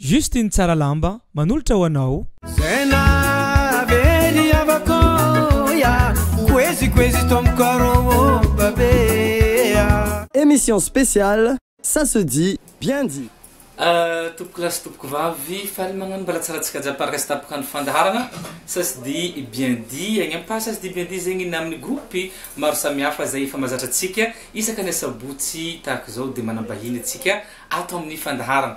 Juste iny tsara lamba manolotra ho anao. Zay nahavery havako ya Koezy koezy to am koro o babe a. Emission spéciale ça se dit bien dit. Tompokolahy sy tompokovavy, faly magnano mbalatsara tsika jiaby par resta mpikandro fandaharana ça se dit bien dit agny am page ça se dit bien dit zegny na aminy groupe maro samihafa zay efa mazatra tsika isaka ny asabotsy tahaka zao de manambahiny atsika ato aminy fandaharana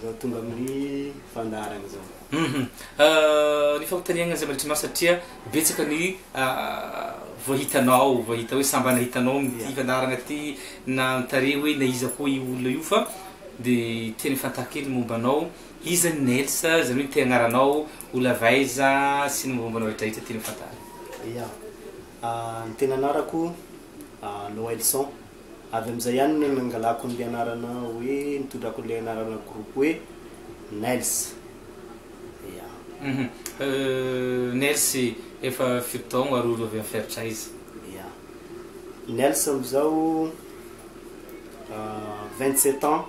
Zao tonga amin'ny fandaharana zao. Hum ny fanontaniana izay mandritranao satria betsaka ny voahitanao voahita hoe sambana hitanao amin'ity fandaharana ity na mitare hoe na iza koa io olona io fa de tena fantaro kely momba anao iza ny Nels izany hoe te agnaranao olava aiza sy ny momba anao rehetra rehetra tena fantaro. Ya ny tena anarako Noelson. Avy amin'izay ihany no nangalako an'ilay anarana hoe, nitondrako an'ilay anarana groupe hoe Nels. Ya. Hum. Nels efa fito taogno ary olo avy amin'ny feritra aiza? Ya. Nels amin'izao vingt sept ans,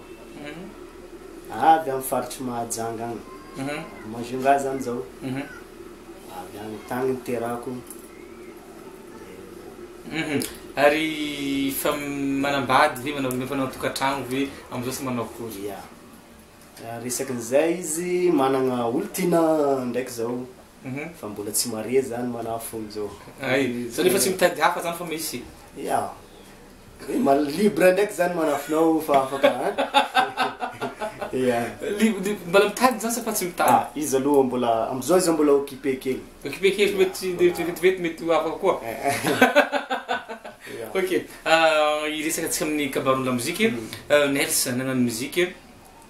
avy amin'ny faritr'i Mahajanga agny. Majunga zany zao. Avy agny, tagny niterahako. Ary efa manambady ve, manao efa nanao tokantrano ve amzao sy manao akory? Ya, raha resaka an'izay izy managna olon-tiana ndraiky zao fa mbola tsy marié zany manafo amzao. Hay, zany efa tsy mitady hafa zany fa misy? Ya, Eh, ma- libre ndraiky zany manafinao fa afaka a ya Li- li- Mbala mitady zany sa fa tsy mitady? ah izy aloha mbola amizao izy mbola occupé kely Occupé kely mety tsy de- de- de- mety mety ho afaka koa. Ya. Ok, ah, hiresaka antsika amin'ny kabaron'ny lamozika. Ah, Nels, nanana ny mozika.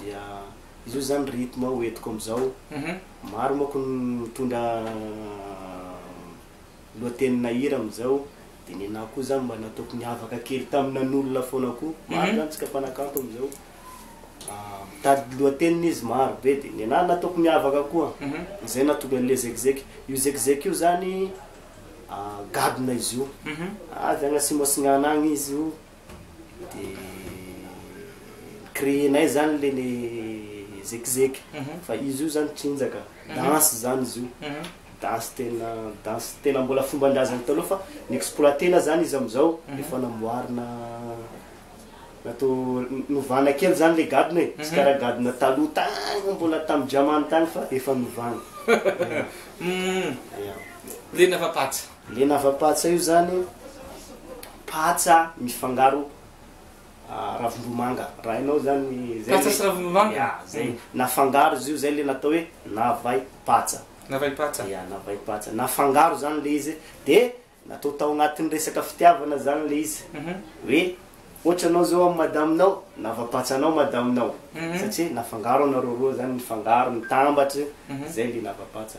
dia izy io zany rythme ho entiko amizao maro manko ny mitondra lohateny na hira amizao de ny anah koa zany mba nataoko niavaka kely tam nanolona fona koa maro zany tsika mpanakanto amizao mitady lohateny izy maro be de ny anah nataoko niavaka koa zay nahatonga anle zekizeky io zekizeky io zany gadona izy io avy agny atsimo atsinana agny izy io dia ni-créer-nay zany le ny zekizeky fa izy io zany tsinjaka, danse zany izy io, danse tena danse tena mbola fomban-drazana taloha fa ni-exploiter-na zany izy amizao efa namboarina natao novana kely zany le gadona e, tsy karaha gadona taloha tagny mbola tamin-dRamany tagny fa efa novana. Hum, liana fa patsa. Le navapatsa io zany patsa mifangaro ravim-bomanga raha hainao zany zay patsa sy ravim-bomanga ya zay nafangaro izy io zay le natao hoe navay patsa navay patsa ya navay patsa nafangaro zany le izy de natao tao agnatin'ny resaka fitiavana zany le izy hoe ohatra anao zao amin'ny madaminao navapatsanao madaminao satria nafangaro anareo roa zany mifangaro mitambatra zay le navapatsa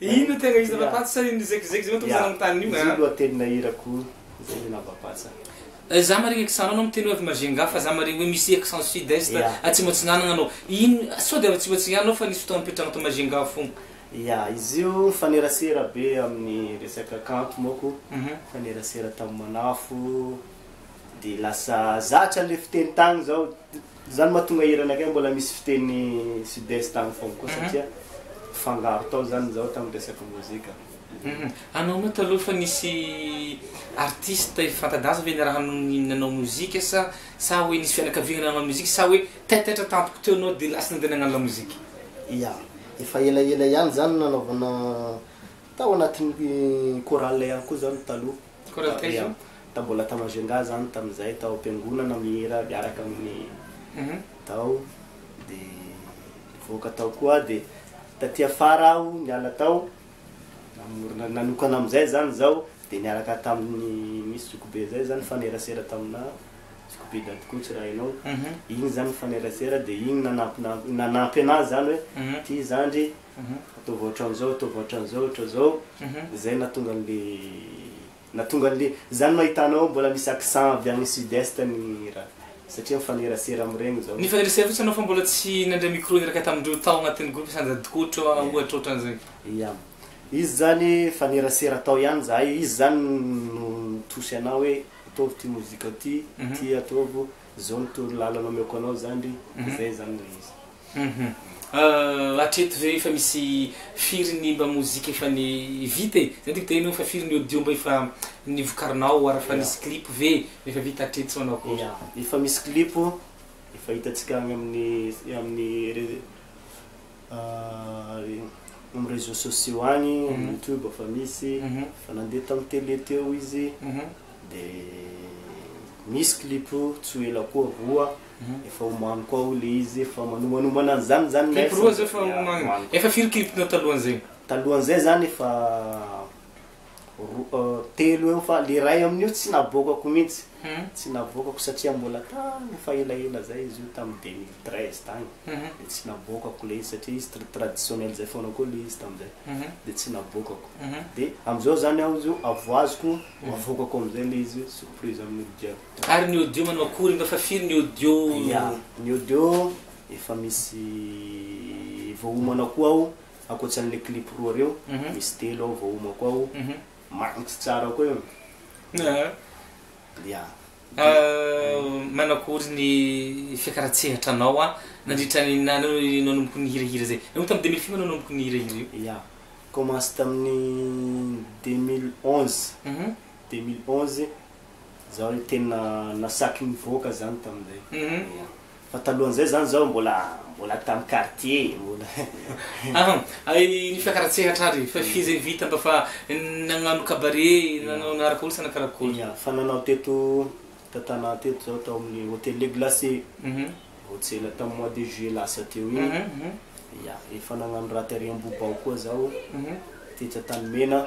Inona tena izy Ravapatsa sa inona izay kizikizy moa tokony zanaky ny tany io a. Izay lohatenina hirako izay ny Ravapatsa. Za maria accent anao miteny hoe avy Majunga fa za maria hoe misy accent sud est atsimo atsinanana anao. Ino sao dia avy atsimo atsinanana anao fa nisy fotoana nipetrahana tao Majunga fona. Ya, izy io mifanerasera be amin'ny resaka kanto manko, mifanerasera tamin'ny manafo, dia lasa zatra ilay fiteny tany izao. Izany mahatonga hirana kay mbola misy fiteny sud est any foagna koa satria fangaro tao izany izao tamin'ny resaka mozika. Anao moa taloha efa nisy artiste efa fanta-daza ve niaraha nanao mozika sa sa hoe nisy fianakaviana nanao mozika sa hoe taitaitra tampoka teo ianao dia lasa nandeha nagnano lamozika? Ya, efa elaela ihany izany nanaovana tao anatin'ny chorale ihany koa izany taloha. Tao mbola tao Majunga za no tamin'izay tao am-piangonana mihira miaraka amin'ny tao dia nivoaka tao koa aho dia taty afara aho niala tao namorona nanokana amin'izay zany izao dia niaraka tamin'ny misy zokibe zay zany nifanerasera taminà zokibe dadikoa tsy raha hainao iny zany nifanerasera dia iny nanampy nanampy anà zany hoe ity zandry Ataovy ohatran'izao, ataovy ohatran'izao, ohatran'izao, izay no nahatonga an'ilay, nahatonga an'ilay, izany no ahitanao ao mbola misy accent avy agny sud-est ny raha, satria mifanerasera amin'iregny izao. Nifanerasera fotsiny anao fa mbola tsy nandray micro niraka tamindreo tao agnatin'ny groupe sanjadikotro ohatra ohatran'izay. Ia. Izy zany nifanerasera tao ihany zahay, izy zany no nitosy anah hoe ataovy ity mozika ty, ty ataovy, zao ny toro lalana omeko anao zandry, zay zany ilay izy. Hum hatreto ve efa misy firy ny mba mozika efa ny vita e? Zay tiako teneno fa firy ny audio mba efa nivokarinao ary efa nisy clip ve mba efa vita hatreto sa manao akory? Efa misy clip efa hitantsika any amin'ny amin'ny amin'ny réseaux sociaux any amin'ny youtube efa misy efa nandeha tamin'ny télé teo izy dia misy clip tsy ho ela koa roa Efa omano koa hoy le izy efa manomanomanan an'izany izany nefa. Clip roa zao efa omano. Efa firy clip nao talohan'izay? Talohan'izay zany efa roa telo eo fa le ray amin'io tsy navoakako mintsy. Tsy navoakako satria mbola tany efa elaela zay izy io tam deux mille treize tany de tsy navoakako le izy satria izy tr traditionnel zay foana koa le izy tam'zay de tsy navoakako. De am'zao zany aho izy io avoaziko avoakako am'zay le izy surprise amin'olo jiaby. Ary ny audio manao akory nga fa firy ny audio? Ya, ny audio efa misy voahomana koa ao ankoatra an'le clip roa reo, misy telo ao voahomako ao, magnitsy tsara koa io. Ya. Manao akory ny fiakaran-tsehatra anao nandritra ny nanomboka nihirahira zay? Nanomboka tamin'ny deux mille firy anao nanomboka nihirahira io? Ya, commence tamin'ny deux mille onze, deux mille onze Zaho le tena nasaky nivoaka zany tamin'izay. Ya. Fa talohan'izay zany zaho mbola mbola tam quartier mbola. Aha, ay ny fiakaran-tsehatra ary fa f'izay izay vita mba fa nagnano cabaret, nanao niaraka olo sa nakarakory? Ya, fa nanao teto Tantanahy teto zaho tao amin'ny Hotel Le Glace. Vao tsy ela tam mois de juillet lasa teo iny. Ya, efa nagnano raha tary Ambohibao koa zaho, tetsy Antanimena.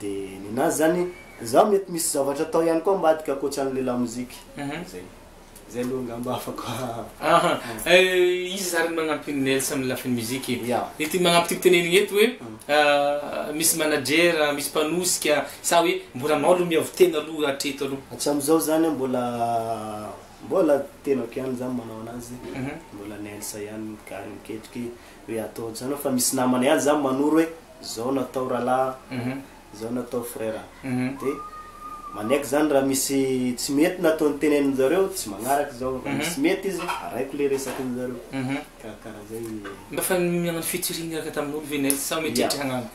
Dia nina azy zany, za mety misy zavatra atao ihany koa ambadika ankoatran'ilay lamozika. Zay. Zay aloha angamba afaka. Aha. Iza zany no magnampy an'i Nels amin'ny lafiny mozika? Ya. Ity magnampy ity tenenigny eto hoe misy manager, misy mpanosika sa hoe mbola anao aloha miavo tena aloha hatreto aloha? Hatramin'izao zany an mbola mbola tenako ihany zany manao anazy, mbola Nels ihany gary miketriky hoe atao ohatr'izany fa misy namana ihany zany manoro hoe zao natao ralah zao natao frera de manaiky zany raha misy tsy mety na ataony tenenin zareo tsy magnaraka zao raha misy mety izy araiko le resakin zareo karakara zay mba fa miagnano featuring miaraka taminolo ve nel sa mety eritry hagnano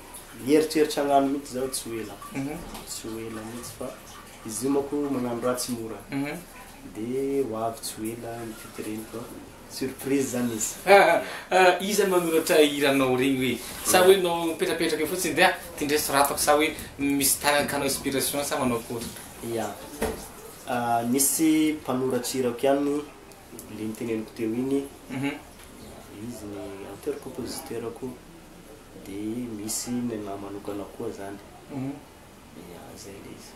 mieritreritra hagnano mitsy zao tsy ho ela tsy ho ela mitsy fa izy io mako magnano raha tsy mora de ho avy tsy ho ela ny featuring ko Surprise zany izy. Iza no manoratra hiranao regny hoe? Sa hoe nao mipetrapetraka eo fotsiny de ah ty ndray soratako sa hoe misy tagnany ka anao inspiration sa manao akory? Ya, nisy mpanoratry hirako ihany le niteneniko teo iny, izy ny auteur compositeur ko de misy nenah manokana koa zany, ya zay le izy.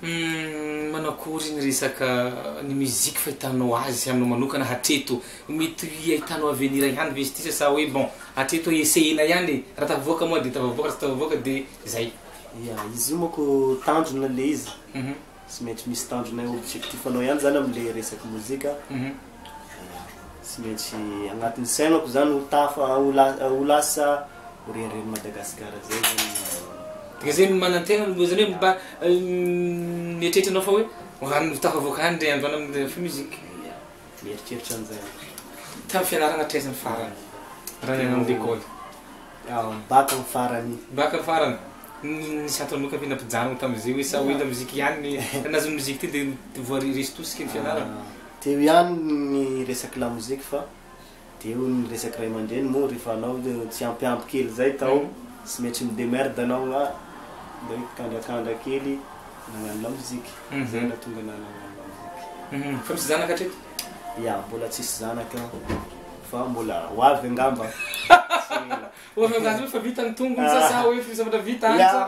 Humm manakory ny resaka ny musique fahitanao azy anao manokana hatreto? Mety ho hiahitanao avenir ihany ve izy ity sa sa hoe bon hatreto hoe essayena ihany e, raha tafavoaka moa dia tafavoaka, raha tsy tafavoaka dia zay. Ya, izy io manko tanjona le izy, tsy maintsy misy tanjonay objectif-nao ihany zany amle resaky mozika Tsy maintsy agnatin'ny sainako zany ho tafa, ho la- ho lasa ho renireny Madagasikara zay zany ny. Dia zay no manantena aloha, zany hoe mba mieritreritra anao fa hoe ho any, ho tafavoaka any ndray andro any amin'ny Free Music. Ia, mieritreritra an'izay aho. Tamin'ny fianarana hatraiza ny farany raha niala ny lekôly? Bac ny farany. Bac ny farany. Ny nisy antony aloha ka ve nampijanona tamin'izay hoe sa hoe la musique ihany ny, raha nahazo ny musique teo dia voa resy tosika ny fianarana? Teo ihany ny resaky lamoziky fa dia eo ny resaky ray aman-dreny moa rehefa anao tsy ampy ampy kely izay tao tsy metry mi demerde anao nga mba hoe kandrakandra kely nagnano lamoziky zay no nahatonga anah nagnano lamoziky. Fa misy zanaka hatreto? Ya, mbola tsisy zanaka fa mbola ho avy angamba tsy ela. Ho avy angamba fa vita ny tongony sa sa hoe zavatra vita any sa?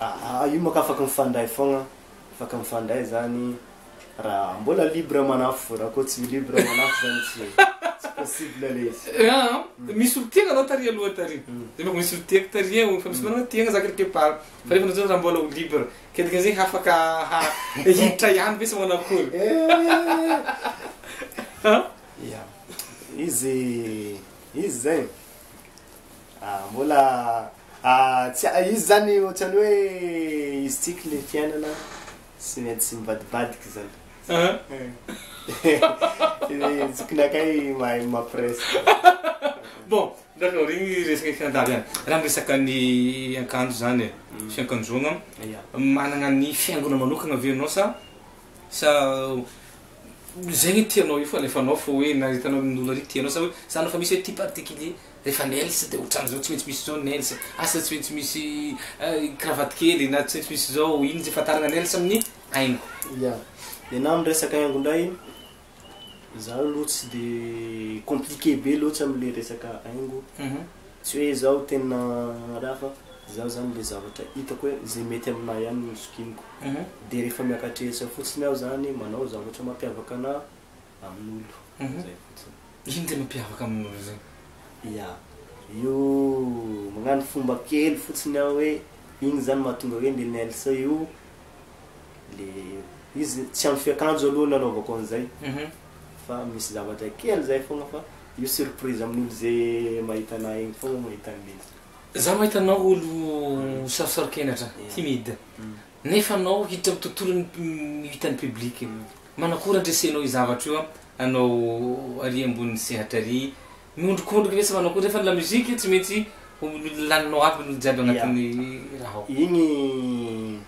Aa io moa ka afaka mifandray foagna, afaka mifandray zany raha mbola libre manafo, raha koa tsy libre manafo zany tsy tsy possible le izy. Aa misy olo tiagna anao tary aloha tary, de mba misy olo tiako tary eo, efa misy namana tiagna za quelque part, fa nefany zao za mbola ho libre, ke dikan'izay hafaka ha hiditra ihany ve sa manakory? Aa. Izy izy zegny. Ah mbola ah tsy ah izy zany ohatrany hoe izy tsiky le fiainana tsy maintsy mivadibadika zany zokinakay mahay mampiresaka. Bon, d'accord igny resaka fianadahy zany. Raha miresaka ny akanjo zany e, fiankanjoagna, managna ny fihaingoana manokagna ve anao sa sa zegny tianao io fa alefanao fô hoe na hitanao ny olo ary tianao sa hoe zany efa misy hoe ty particulier. Rehefa Nails dia otrany zao tsy maintsy misy zao ny Nails, asa tsy maintsy misy cravate kely na tsy maintsy misy zao, iny izay fantarina Nails amin'ny haingo. Ya, dia na amin'ny resaka haingo indray, izaho aloha tsy dia compliqué be loatra amin'ilay resaka haingo, tsy hoe izaho tena raha fa izaho izany ilay zavatra hitako hoe izay mety amin'ahy ihany no zokiniko, dia rehefa miaka-trehitra fotsiny aho izany manao zavatra mampiavaka an'ahy. amin'olo zay fotsiny. Ino tena mpiavaka amin'olo zay? Ya, io magnano fomba kely fotsiny aho hoe iny zany mahatonga hoe le nails io le izy tsy amin'ny fiakanjo aloha no anaovako an'izay fa misy zavatra kely zay fogna fa io surprise amin'olo ze mahita anah egny fogna mahita an'le izy. Za mahita anao olo sarosaro-kenatra, timide, Nefa anao hiditra am tontolo ny ny hitan'ny public. Manakory andresenao io zavatra io anao ary ambony sehatra ary miondrikondrika ve tsy manakory nefa ny la musique tsy maintsy ho laninao aby ny jiaby agnatin'ny raha ao. Igny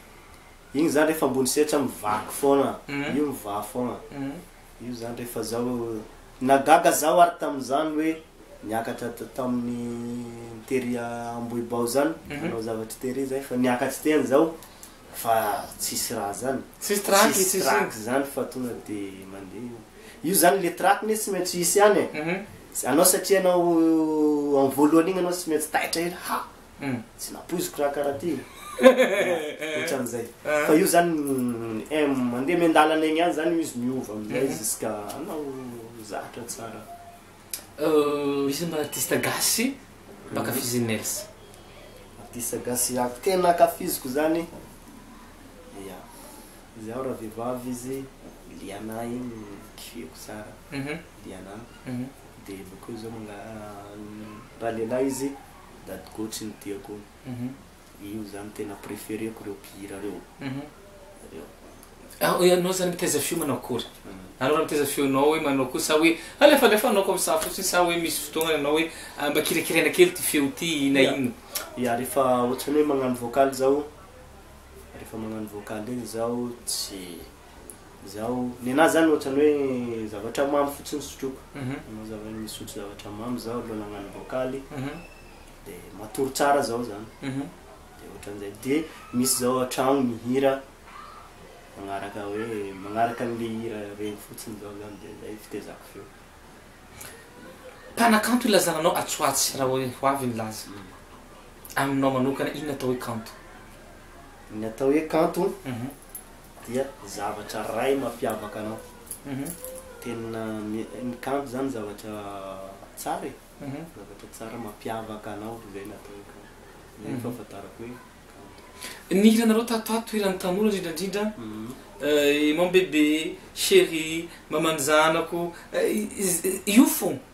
igny zany refa ambony sehatra mivaky foagna io mivaha foagna Io zany rehefa zao, nagaga zaho ary tamin'izany hoe niakatra tamin'ny tery Ambohibao zany, nanao zavatry tery zay fa niakatry teny zao fa tsisy raha zany, tsisy trac zany fa tonga de mandeha io, io zany le trac ne tsy maintsy hisy ihany e, anao satria anao amin'ny voalohany iny anao tsy maintsy taitra ela, ha! Tsy nampoiziko raha karaha ty e. Otran'izay. Fa io zany mandeha miandalana egny ihany zany io izy miova amizay jusqu'à hanao zatra tsara. Iza mba artiste gasy mba ankafizin'i Nels? Artiste gasy tena ankafiziko zany, ya, izaho raha vehivavy izy Liana igny kifeko tsara, Liana, dia bakeo zao manga- raha lehilahy izy. Dady Gotsy no tiako io zany tena prefereko reo mpihira reo reo. Ah, ianao zany mitaiza feo manao akory? Anao raha mitaiza feonao hoe manao akory sa hoe alefalefanao comme ça fotsiny sa hoe misy fotoana ianao hoe ah, mba kirakiraina kely ty feo ty na Ya. inona? Ya, rehefa ohatrany hoe magnano vocal zao, rehefa magnano vocal iny zaho tsy. Izaho, ny anà izany ohatran'ny hoe zavatra mamy fotsiny sotroiko. Zava- misotro zavatra mamy izaho alohan'ny hagnano voakaly. Dia matory tsara izao izany. Dia ohatran'izay. Dia misy izao an-trano mihira magnaraka hoe, magnaraka an'ilay hira regny fotsiny izao izany dia izay fitaizako feo. Mpanakanto ilazana anao atsy ho atsy raha hoe ho avy ny laza. Aminao manokana, inona atao hoe kanto? Ny atao hoe kanto? dia zavatra iray mampiavaka anao. Tena ny kanto zany zavatra tsara e, zavatra tsara mampiavaka anao zay no atao hoe kanto, zay no fahafantarako hoe kanto. Ny hiranareo tato ato, hiran'ny tanora indrindra indrindra, Imam Bebe, Cherie, Maman'ny zanako, io fôgna.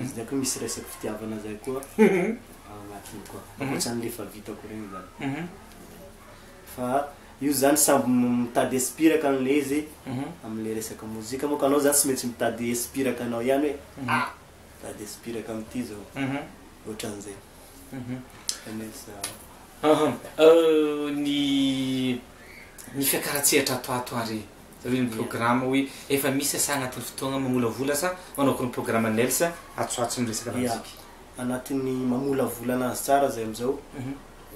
Izy ndraiky misy resaky fitiavana zay koa ao agnatiny koa, ankoatrany le fa vitako regny zany. Fa io zany samby mitady espiraka anle izy amle resaka mozika manko anao zany tsy maintsy mitady espiraka anao ihany hoe ah! mitady espiraka amty zao, ohatranzay. Ny ny fiakaran-tsehatra ato ato ary Reny programa hoe efa misy asa anatin'ny fotoagna mamolavola sa manao akory ny programa Nels atswatso ny resaka lamoziky? Anatin'ny mamolavola anazy tsara zay amizao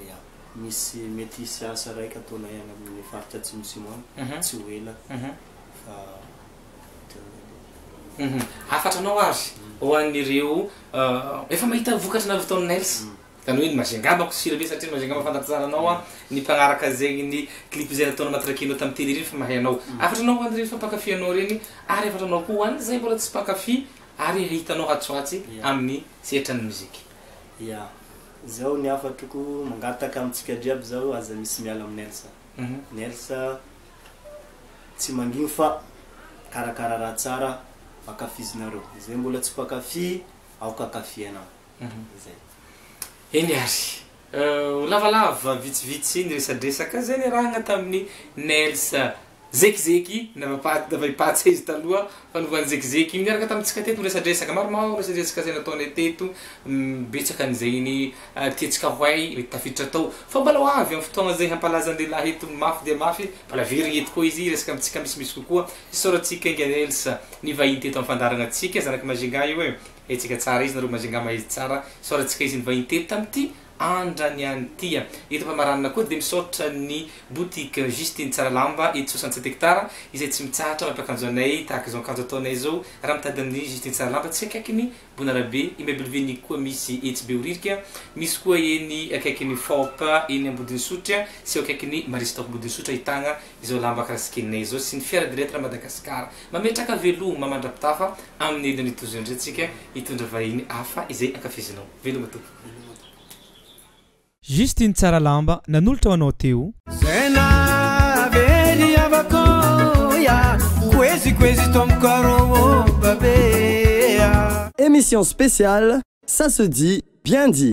ya misy mety hisy asa raika ataonay any amin'ny faritra atsimo simo any tsy ho ela fa hafatra anao ary ho an'ireo efa mahita vokatra nareo vao Nels Taloha iny Majy angamba ko sira be satria Majy angamba fantatro tsara anao an, ny mpagnaraka zegny ny clip izay nataon'i Matraqueno tamin'ny tele ireny fa mahay anao. Hafatra anao ho any ireny fa mpankafy anao ireny ary hafatra anao koa ho any izay mbola tsy mpankafy ary hahita anao atsy ho atsy amin'ny sehatran'ny musique. Ya. Izao ny hafatroko, mangataka amintsika jiaby izao aza misy miala amin'i Nelsa. Nelsa tsy mangigny fa karakara raha tsara ankafizinareo. Izay mbola tsy mpankafy aoka ankafianao. Zay. Eny ary. Ho lavalava vitsivitsy ny resadresaka. Zay niarahana tamin'i Nels Zekizeky, navaipatsy izy taloha fa novan'i Zekizeky. Niaraka tamintsika teto niresadresaka. Maromaro resadresaka zay nataonay teto. Betsaka an'izay ny tiantsika ho hay mety tafiditra tao. Fa mbola ho avy amin'ny fotoagna zay hampalaza an'i lehilahy eto mafy dia mafy. Mbola averigny eto koa izy hiresaka amintsika misimisy kokoa. Isaorantsika enga Nels nivahiny teto amin'ny fandaharagna antsika. Zanak'i Majinga io e. Hetsika tsara izy nareo Majinga mahery tsara soratsika izy nivahiny teto tamty andra ny any tia eto Ampamaranina koa dia misaotra ny boutique Justine tsara lamba eto soixante sept hectares izay tsy mitsahatra mampiakanjo anay tahaka izao akanjo ataonay izao raha mitady ny Justine tsara lamba tsy akaikin'ny bonarabe immeuble ny koa misy etsy behoririka misy koa eny akaikin'ny faop eny ambodinsotra sy eo akaikin'ny maristok bodinsotra ahitagna izao lamba karasikeninay izao sy ny fiara de lettre Madagascar Mametraka veloma mandra-pitafa amin'ny hidiny ity tojo indray tsika hitondra vahiny hafa izay ankafizinao. Veloma tompoko. Juste iny tsara lamba nanolotra ho anao teo. Zay nahavery havako ya Koezy koezy tompoko arô ô babea. Emission spéciale ça se dit bien dit.